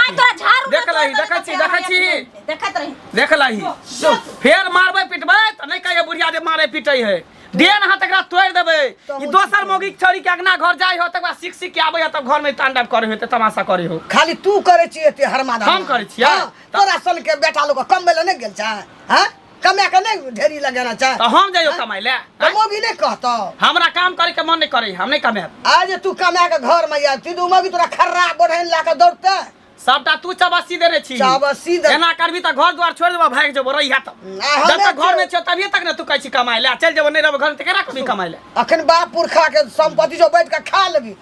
आइ तोरा झाड़ू देख लही देखै छी देखै छी देखत रही देख लही फेर मारबै पिटबै तऽ नहि कहिए बुढ़िया जे मारै पिटै है देन हाथ एकरा तोड़ि देबै ई दोसर मौगी छोड़ी के अगना घर जाइ हो तकर बाद सीख सीख के आबै हो तब घर में तांडव करे हो तऽ तमाशा करे हो खाली तू करे छी एते हरमा हम करै छियै? तोरा सन के बेटा लोग कम बेले नहीं गेल छै हैं कमे के नहीं ढेरी लगाना चाह तो हम जाइयो कमाई ले हम भी नहीं कहतो हमरा काम करे के मन नहीं करे हम नहीं कमे आज तू कमे के घर में यार तू मौगी तोरा खर्रा बढ़न ला के दौड़ते सबटा तू चबासी देने छी चबासी दे एना करबी त घर द्वार छोड़ देबो भाग जेबो रही हाथ जब तक घर में छ तभी तक ने तू कहै छी कमाई ले चल जेबो नहीं रहबो घर त केरा कमी कमाई ले अखन बाप पुरखा के संपत्ति जो बैठ के खा लेबी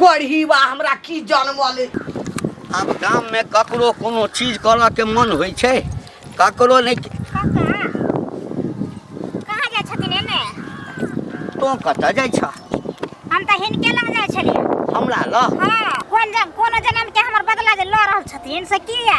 कोढ़ी बा हमरा की जनमले आब गाम में ककरो कोनो चीज करऽ के मन होइ छै ककरो नहीं कहाँ कहाँ जाइ छथिन एने तो कतऽ जाइ छ हम तऽ हिनके लग जाइ छलियै हमरा लग हाँ कोन जन कोनो जनम के हमर बदला जे लऽ रहल छथिन से किया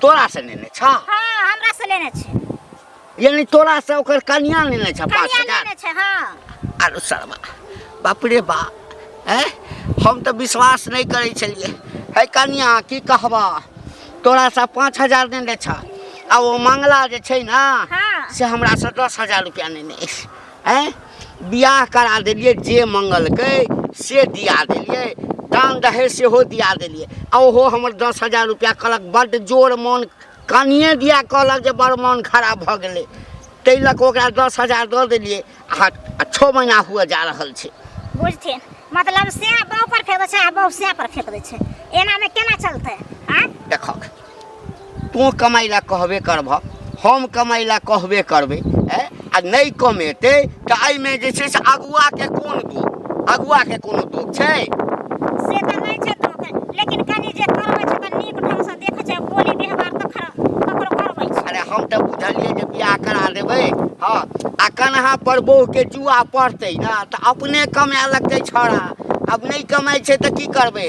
तोरा से लेने छ हां हमरा से लेने छै यानी तोरा से ओकर कन्या लेने छ 5000 कन्या लेने छै हां आरो शर्मा बाप रे बा हैं हम तो विश्वास नहीं करे छलिए है कन्या की कहबा तोरा से 5000 लेने छ आ वो मंगला जे छै ना हां से हमरा से 10000 रुपया लेने अछि आँय बियाह करा देलियै जे मंगलकै से दिया देलियै दान दहेज सेहो दिया देलियै आ ओहो हमर दस हजार रुपैआ कहलक बड्ड जोर मोन कनिए दिया कहलक जे बड़ मोन खराब भऽ गेलै ताहि लऽ कऽ ओकरा दस हजार दऽ देलियै आ आ छओ महीना हुअ जा रहल छै बुझथिन मतलब से बाँह पर फेंक दै छै आ बाँह से पर फेंक दै छै एनामे केना चलतै आँय देखक तू कमाइ लए कहबे करबह हम कमाइ लए कहबे करबै आ नहि कमेतै तऽ एहिमे जे छै से अगुआके कोन दोष अगुआके कोनो दोष छै से तऽ नहि छै दोष लेकिन कनी जे करबै छै तऽ नीक ढंगसँ देखै छै बोली व्यवहार तऽ ककरो करबै छै अरे हम तऽ बुझलियै जे बियाह करा देबै हँ आ कन्हा पर बहुके जुआ पड़तै ने तऽ अपने कमाए लगतै छौड़ा आब नहि कमाइ छै तऽ की करबै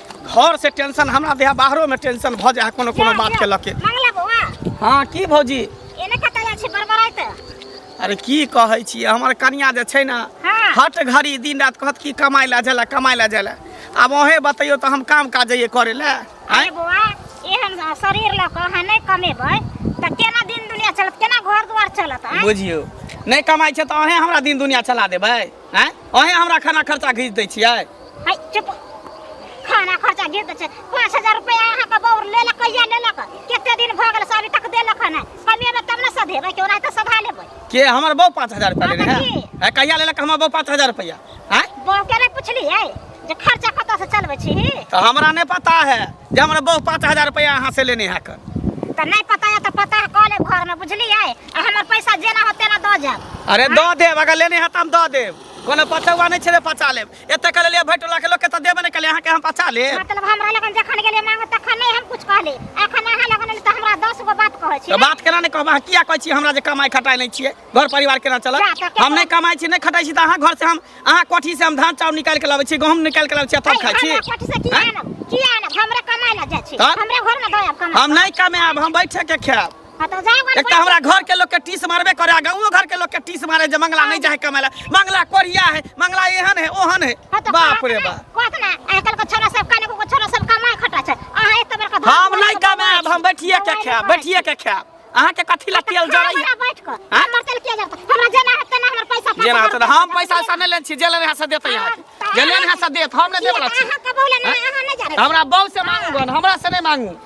घर से टेंशन हमरा देह बाहरो में टेंशन भ जाए कोनो कोनो बात के लके मंगला बौआ हाँ की भौजी एने कतऽ जाइ छी बड़बड़ाइत अरे की कहै छी हमर कनिया जे छै ना हाँ। हट घड़ी दिन रात कहत की कमाई ला जाला कमाई ला जाला अब ओहे बतैयो तो हम काम काज ये करे ला अरे आँय? बौआ एहन शरीर लऽ कऽ अहाँ नहि कमेबै तऽ केना दिन दुनिया चलत केना घर दुआर चलत आँय? बुझियो नहीं कमाई छै तो अहे हमरा दिन दुनिया चला देबै हैं ओहे हमरा खाना खर्चा घीच दै छियै हाय चुप खाना खर्चा गिर दे छै पाँच हजार रुपया अहाँ के बौर ले लक कहिया ले लक कते दिन भ गेल से अभी तक देलक हन कमेबे तब ने सधेबै केओ नहीं तो सधा लेबै के हमर बहू पाँच हजार रुपया लेने हाँ, है जी। हैं, कहिया लेलक हमर बहू पाँच हजार रुपया हैं बहू के नहीं पुछलियै जे खर्चा कतऽ से चलबै छी तो हमरा नहीं पता है जे हमर बहू पाँच हजार रुपया अहाँ से लेने है कर तऽ नहि पता यऽ तऽ पता कऽ लेब घरमे बुझलियै आ हमर पैसा जेना हो तेना दऽ जायब अरे दऽ देब अगर लेने है तऽ हम दऽ देब कोनो पचौआ नहि छै जे पचा लेब एते कह लेलियै भरि टोला के लोग के तऽ देबे नहि कलियै अहाँके हम पचा लेब मतलब हमरा लगन जखन गेलियै मांगे तखन नहि हम कुछ कहली एखन अहाँ लगन एलियै तऽ हमरा दस गो बात कहै छी तऽ बात केना नहि कहब अहाँ किया कहै छी हमरा जे कमाइ खटाइ नहि छियै घर परिवार केना चलत जा, तऽ हम नहि कमाइ छी नहि खटाइ छी तऽ अहाँ घर से हम अहाँ कोठी से हम धान चाउर निकालि के लाबै छी गहूम निकालि के लाबै छी आ तब खाइ छी हमरा कोठी से किया आनब किया आनब हमरा कमाइ लए जाइ छी तऽ? हमरा घर में दऽ आयब कमाइ हम नहि कमाएब हम बैठे के खाएब हाँ तो जाए वाला एक तो हमारा घर के लोग के टीस मारबे करे आ गाँव घर के लोग के टीस मारे जे मंगला नहीं जाए कमाए ला मंगला कोरिया है मंगला एहन है ओहन है हाँ तो बाप रे बाप कहत ना आजकल के छोरा सब काने को छोरा सब कमाए खटा छै अहाँ एक बेर का हम नहीं कमाएब हम बैठिए के खाएब बैठिए के खाएब अहाँ के कथी ला तेल जरैया जरा बैठ के हाँ? हमर तेल किया जरता हमरा जेना हेतै ना हमर पैसा जे ना होतै हम पैसा ऐसा नहीं लेने छी जे लेने है से देते यहाँ जे लेने है से देत हम नहीं देबला छी अहाँ के बोले ना अहाँ नहीं जाने हमरा बौ से मांगू गन हमरा से नहीं मांगू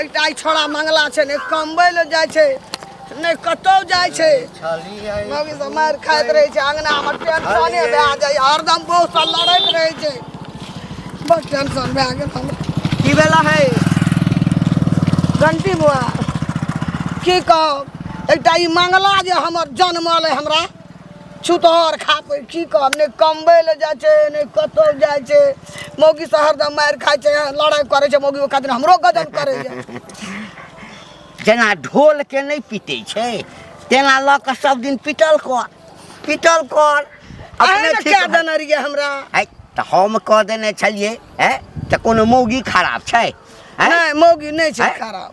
एकटा ई छोड़ा मंगला छै ने कमबै लए जाइ छै ने कतौ जाइ छै मम्मी से मार खाइत रहै छै अंगना हमर टेंशने भए जाइ हरदम बहू से लड़ैत रहै छै बस टेंशन भए गेल हमरा की भेला है घंटी बुआ की कहब एकटा ई मंगला जे हमर जन्मल है हमरा छुतहर खापै की कहब नहि कमबै लए जाइ छै नहि कतौ जाइ छै मौगी से हरदम मारि खाइ छै लड़ाइ करै छै मौगी ओकरा दिन हमरो गजन करैया जेना ढोल के नहि पीटे छै तेना लऽ कऽ सब दिन पीटल कर पीटल कर अहे अपने ने ठीक कए भऽ- देने रहियै हमरा है तऽ हम कह देने छलियै है तऽ कोनो मौगी खराब छै हैं? नहि मौगी नहि छै हैं? खराब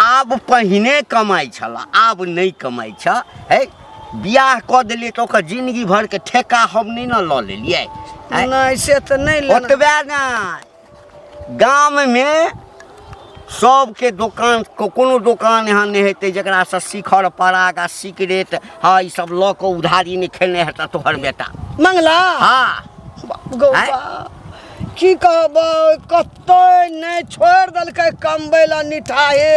आब पहिने कमाइ छल आब नहि कमाइ छ हे बियाह कऽ देलियै तऽ ओकर जिंदगी भर के ठेका हम नहि ने लऽ लेलियै आँय? नहीं से तो नहीं लेना ओतबे ने गाम मे सबके दोकान को- कोनो दोकान एहन नहि हेतै जकरा से शिखर पराग आ सिगरेट हँ ई सब लऽ कऽ उधारी नहि खेने हेता तोहर बेटा मंगला हाँ गौवा की कहबै कतै नहि छोड़ देलकै कमबै ला निठाहे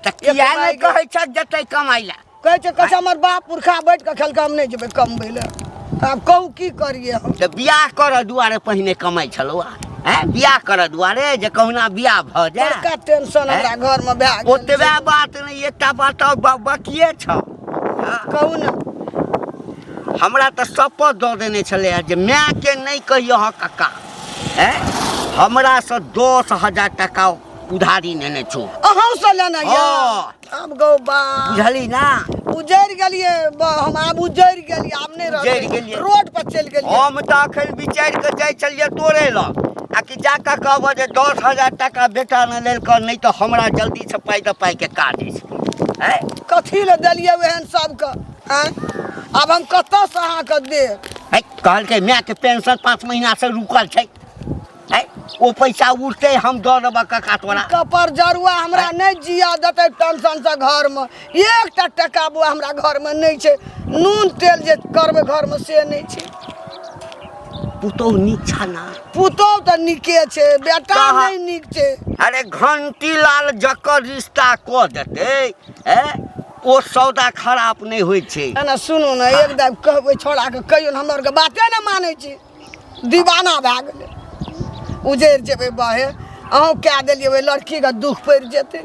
तऽ किया नहि कहै छ जतै कमाइ ला कहै छै कहै हमर बाप पुरखा बैठ कऽ खेलकै हम नहि जेबै कमबै ला आब कहू की करियै हम तऽ बियाह करऽ दुआरे पहिने कमाइ छलौ हैं बियाह करऽ दुआरे जे कहुना बियाह भऽ जाए बड़का टेंशन हमरा घरमे भए गेल ओतबे बात नहि एकटा बात बकिए छौ कहू ने हमरा तऽ शपथ दऽ देने छलै जे मायके नहि कहियो हँ कक्का हैं हमरासँ दस हजार टाका उधारी नेने छौ अहूँ से लेना यऽ हँ। आब गौ बा बुझली ना उजैर गेलिए ब- हम आब उजैर गेलिए आब नहि उजैर रहलिए गेलियै। रोड पर चलि गेलिए हम तऽ अखन विचारि कऽ जाइ छलियै तोरे लग आ कि जा कऽ कहबह जे दस हजार टाका बेटा ने लेलकऽ नहि तऽ हमरा जल्दीसँ पाइ दऽ पाइके काज अछि हैं कथी लए देलियै ओहन सबके आँय? आब हम कतऽसँ अहाँके देब है कहलकै मायके पेंशन पाँच महीना से रुकल छै है ओ पैसा उठते हम दऽ देबऽ कका तोरा कपर जरुआ हमरा नहि जिया देतै पेंशनसँ घरमे एकटा टका बुआ हमरा घरमे नहि छै नून तेल जे करबै घरमे से नहि छै पुतोह नीक छा ना पुतोह तऽ नीके छै बेटा कहाँ? नहि नीक छै अरे घंटी लाल जकर रिश्ता कऽ देतै ए ओ सौदा खराब नहि होइ छै एना सुनू ने एक दाब कहबै छोड़ाके कहियो ने हमर के बाते ने मानै छी दीवाना भए गेलै उजैर जेबै बाहे अहूँ कए देलियै ओहि लड़कीके दुख पड़ि जेतै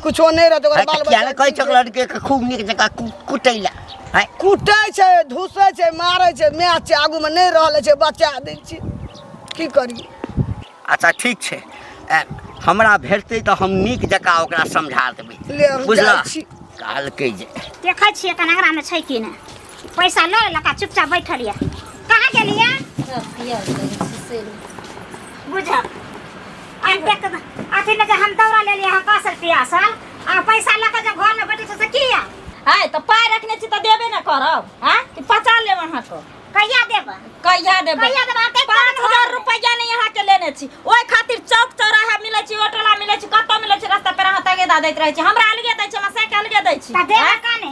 कुछो नहि रहत ओकर बाल बच्चा कहै छै लड़के के खूब नीक जकाँ कुटै लए कुटै छै धुसै छै मारै छै मैच छै आगूमे नहि रहल छै बचा दै छी की करी अच्छा ठीक छै हमरा भेटतै तऽ हम नीक जकाँ ओकरा समझा देबै बुझलऽ कहलकै जे देखै छियै कनागरामे छै कि नहि पैसा लऽ लेलक आ चुपचाप बैठल यऽ कहाँ गेलियै सब पिया गेलै से बुझब आ देख अथी लऽ के हम दौड़ा लेलियै हँ कासल पियासल आ पैसा लऽ के जब घरमे बैठे छै से की यऽ आय तऽ पाय रखने छी तऽ देबे ने करब आ कि पचा लेब अहाँके कहिया देबऽ कहिया देबै कहिया देबऽ अहाँ पाँच कहिया हजार देबऽ रुपैया नहि अहाँके लेने छी ओहि खातिर चौक चौराहा मिलै छी ऑटोला मिलै छी कतौ मिलै छी रस्ता पर अहाँ तगेदा दैत रहै छी हमरा अलगे दै छी हमरा साइकिल अलगे दै छी तऽ देबऽ काने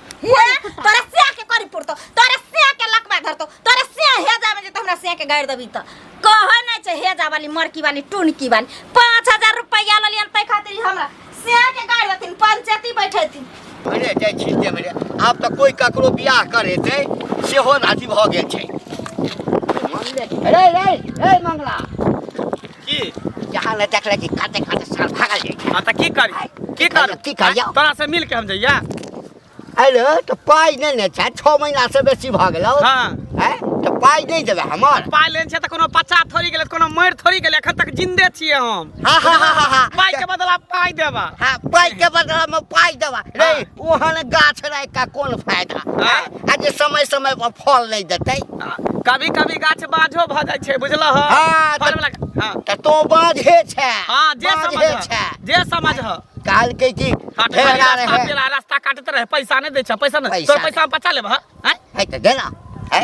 हुआ हैं? तोरा सिया के करी पुरतो तोरा सिया के लकवा धरतो तोरा सिया हे जावे जे त हमरा सिया के गाड़ देबी त कहे नै छै हे जा वाली मरकी वाली टुनकी वाली 5000 रुपया ललियन तै खातिर ई हमरा सिया के गाड़ देथिन पंचायती बैठेथिन अरे जाइ छी ते मेरे आब तऽ कोई ककरो बियाह करे ते सेहो नाती भऽ गेल छै अरे रे ए मंगला की जहाँ ने देख ले कि काटे काटे साल भागल जाई हां त की करी की कर की करियो? आँय, तोरा से मिल के हम जइया अरे तो पाई नहीं ने छा छः महीना से बेसी भऽ गेलौ हां हैं तो पाई नहीं देबे हमर पाइ लेन छै त कोनो बच्चा थोड़ी गेलै कोनो मरि थोड़ी गेलै एखन तक जिंदे छियै हम हा हा हा हा हा पाइ के बदला पाइ देबा हाँ पाई के बदला में पाई देबा रे हाँ। ओहन गाछ रहे का कौन फायदा हाँ। हैं? आ जे समय समय पर फल नहीं देते कभी कभी गाछ बाझो भ जाय छै बुझल ह हां फल वाला हां त तो बाझ हे छै हां जे समझ छै जे समझ ह काल के की फेरा रहे तेरा रास्ता काटत रहे पैसा नहीं दे छै पैसा नहीं तोर पैसा हम बचा लेब ह है त देना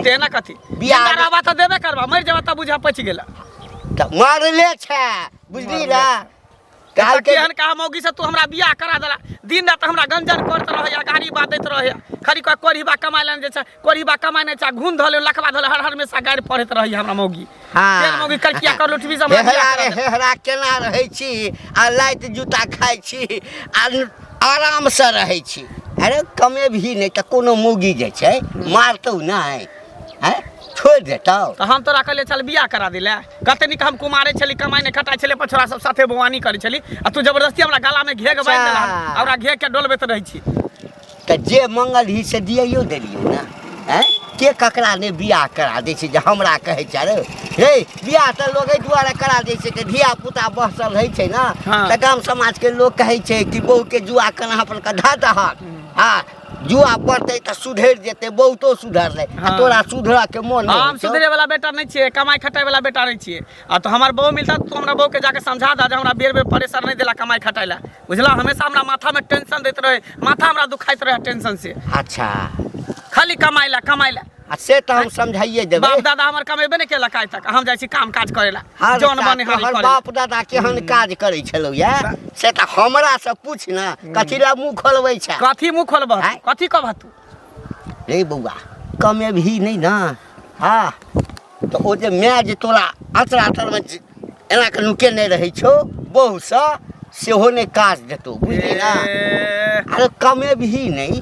देना कथी बियाह रहबा त देबे करबा मर जेबा त बुझा पच गेला त मारले छै बुझली ना काल के केहन कहा मौगी से तू हमरा बियाह करा देला दिन रात हमरा गंजन करत रहे या गाड़ी बात देत रहे खाली कह कोरी बा कमाए लेने जे छै कोरी बा कमाए ने छै घून धले लखवा धले हर हर में सा गाड़ी पढ़त रही हमरा मौगी हाँ। तेल मौगी करकिया कर लुटबी से हमरा बियाह हेहरा करा रे देला। हेहरा केना रहै छी आ लाइत जूता खाइ छी आ आरामसँ रहै छी अरे कमे भी नहि तऽ कोनो मौगी जे छै मारतौ नहि हैं छोड़ देता तो हम तोरा कहले चल बियाह करा दिले कते निक हम कुमारे छली कमाई ने खटाई छले पछोरा सब साथे बवानी करे छली आ तू जबरदस्ती हमरा गला में घेग बांध देला अच्छा। हमरा घेग के डोलबे त रही छी तो जे मंगल ही से दियो देलियो ना हैं के ककरा ने बियाह करा दे छै जे हमरा कहै छै रे हे बियाह तऽ लोग एहि दुआरे करा दै छै कि धिया पुता बहसल रहै छै ने हाँ। तऽ गाम समाज के लोग कहै छै कि बहू के जुआ कना अपन कधा दहक हँ जुआ पड़तै तऽ सुधरि जेतै बहुतो सुधरलै आ हाँ। तोरा सुधरा के मोन नहि हम सुधरे वाला बेटा नहि छियै कमाई खटाई वाला बेटा नहि छियै आ तो हमर बहु मिलता तो हमरा बहु के जाके समझा दा जे हमरा बेर बेर प्रेशर नहि देला कमाई खटाई ला बुझला हमेशा हमरा माथा में टेंशन देते रहे माथा हमरा दुखाइत रहे टेंशन से अच्छा खाली कमाई ला कमाई ला आ से तऽ हम समझाइए देबै बाप दादा हमर कमेबे ने केलक आइ तक हम जाइ छी काम काज करे ला हर जौन ता बने तोहर हरी बाप दादा केहन काज करै छलौ या से तऽ हमरा से पूछ ने कथी ला मुंह खोलबै छै कथी मुंह खोलबह आँय? कथी कहबह तू रे बौआ कमेबही नहि ने हँ तऽ ओ जे माय जे तोरा अँचरा तरमे जे एना कऽ नुकेने रहै छौ बहुसँ सेहो नहि काज देतौ बुझलियै ने ए, अरे कमे भी नहि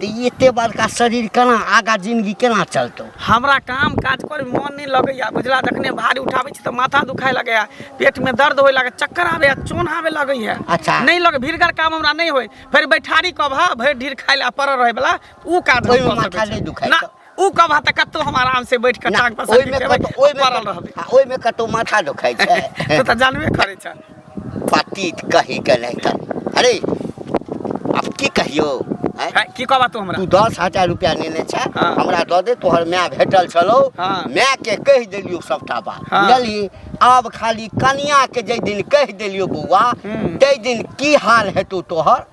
तऽ ई एते बड़का शरीर केना आगा जिंदगी केना चलतौ हमरा काम काज करे में मन नहीं लगैया बुझला जखने भारी उठाबै छी तऽ माथा दुखाए लगैया पेट में दर्द होए लागैया चक्कर आबैया चोन आबे लगैया अच्छा। नहीं लगे भीड़गर काम हमरा नहीं होए फिर बैठारी कब हा भरि ढीर खाए ला पड़ल रहे वाला ऊ काज हम ओहिमे कऽ माथा सकैत छी। नहि दुखाइ ना, छौ। उ कबा त कत्तो हम आराम से बैठ के टांग पर ओइ में कतो ओइ में पड़ल रहबे हां ओइ में कतो माथा दुखाय छै तो त जानबे करे छ पतित कहि के नै त अरे अब की कहियो की कहबा तू हमरा तू दस हजार रुपया लेने छे हाँ। हमरा दऽ दे तोहर माय भेटल छलो हाँ। माय के कह दिलियो सबटा बात हाँ। बुझलिए आब खाली कनिया के जे दिन कह दिलियो बौआ हम्म। ते दिन की हाल हेतौ तोहर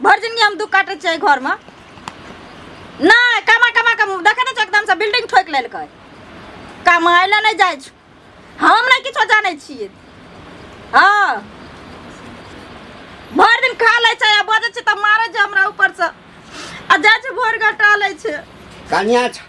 भरि जिनगी हम दुख काटै छियै एहि घरमे नहि कमा कमा कऽ देखै नहि छै एकदमसँ बिल्डिंग ठोकि लेलकै कमाइ लए नहि जाइ छै हम नहि किछो जानै छियै हँ भरि दिन खा लै छै आ बजै छै तऽ मारै छै हमरा ऊपरसँ आ जाइ छै भोर घटा लै छै कनिया छ-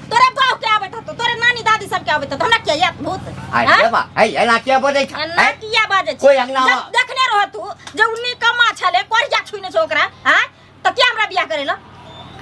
तोरे बाप के आबे तो तोरे नानी दादी सब के आबे तो हमरा के याद भूत आइ हाँ? देबा है एना के बजै छै अन्ना हैं? किया बाजे कोई अंगना- जब देखने रह तू जे उन्नी कमा छले कोरिया छुइने छ ओकरा हां त के हमरा बियाह करेला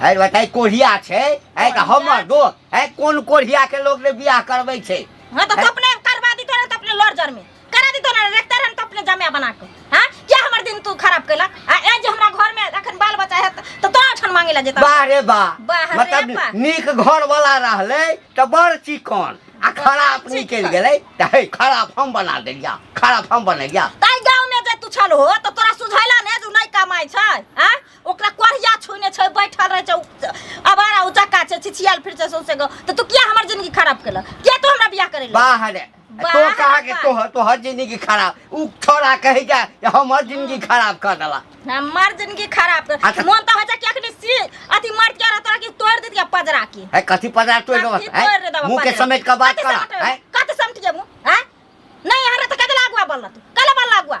है बताइ कोढ़िया छै है तऽ हमर दोस्त है कोन कोढ़िया के लोग ने बियाह करबै छै हां त तू अपने करवा दी तोरे त अपने लड़ जर में करा दी तोरा रखते रहन तो अपने जमे बना के हां क्या हमर दिन तू खराब कैलक आ ए जे हमरा घर में अखन बाल बच्चा है तो तो अठन मांगे ला जेता वाह रे वाह वाह रे मतलब वाह। नीक घर वाला रहले त बड़ चिकन आ खराब बड़ निकल चिकन। गेलै त हे खराब हम बना देलिया खराब हम बनेलिया ताई गांव में जे तू छल हो तो तोरा सुझैला ने जे नहीं कमाई छै हां ओकरा कोरिया छुने छै बैठल रहे छै उ- अबारा उचक्का छै छिछियाल फिर छै सौसे गो तो तू किया हमर जिंदगी खराब कैलक किया तू हमरा बियाह करेला वाह रे तो बाहर कहा के मत। तोहर तोहर जिंदगी खराब उ छोरा कहे जा कि हमर जिंदगी खराब कर देला हमार जिंदगी खराब कर अच्छा। मन तो हो जा कि अखनी सी अथी मर के रहता कि तोड़ दे दिया पजरा के है कथी पजार तोड़ देबस कथी तोड़ दे देबा मुंह के पजरा? समेट के बात कथी करा समेट- है कथी समेट जेबू हैं नहीं हरे तो कदे लागुआ बोलला तू कल बोलला लागुआ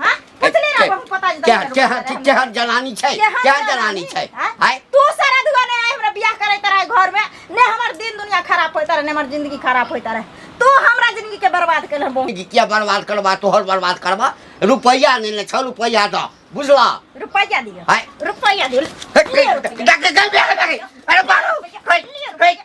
हां पूछले रह बहुत पता जे क्या क्या क्या जनानी छै क्या जनानी छै हाय तू सारा दुआ ने आय हमरा बियाह करे तरा घर में ने हमर दिन दुनिया खराब होय तरा ने हमर जिंदगी खराब होय तरा तू हमरा जिंदगी के बर्बाद कर हम जिंदगी क्या बर्बाद करबा तोहर बर्बाद करबा रुपया ने ले छ रुपया द बुझला रुपया दियो हाय रुपया दियो अरे बारो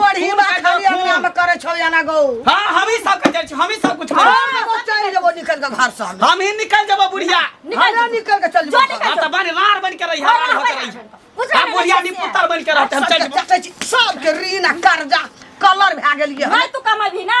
बड़ी खून बात के खाली खून। अपना में करे छौ जाना गौ हाँ हम ही सब के जाय छी हम ही सब कुछ हम करी एगो चल जेबो निकल के घर से हम हम ही निकल जबो बुढ़िया निकल ना निकल के चल जो जेबो निकल। हाँ तो बन रार बन के रही हाँ, रार हाँ, होकर रही बुझा हम नहीं बुढ़िया सकती नहीं है। पुत्र बन के रहते हम चल जबो सबके ऋण आ कर्जा कलर भए गेलियै हम। नहीं तू कमाबी ना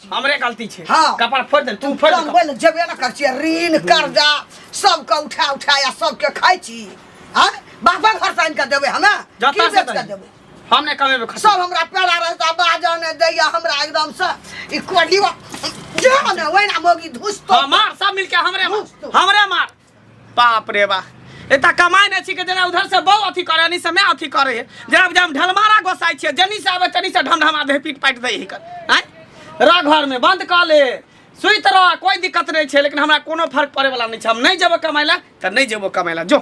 हमरे गलती छै हाँ। कपार फोड़ दे तू फोड़ दे बनबै लए जेबे ने करै छियै ऋण कर्जा सबके उठा उठा या सबके खाइ छी आ बापा घर से आनि कऽ देबै हमे जतऽ की से बेच कऽ करी। देबै हम नहि कमेबै खर्चा। सब हमरा पेड़ा रहता बाजा ने दैया हमरा एकदम से ई कोडीवा जे ने ओहिना मोगी धुसतो हाँ, मार सब मिलके हमरे मार घुस तू। हमरे मार बाप रे बा एता कमाई नहि छी के जेना उधर से बहु अथी करे एनी से मैं अथी करे है जेना जब ढलमारा गोसाई छियै जनी से आबे तनी से ढमढमा दे पीट पाट दे हिकर आय रह घर में बंद कर ले सुइत रह कोई दिक्कत नहीं छै लेकिन हमरा कोनो फर्क पड़े वाला नहीं छै हम नहीं जेबो कमाई ला त नहीं जेबो कमाई ला जो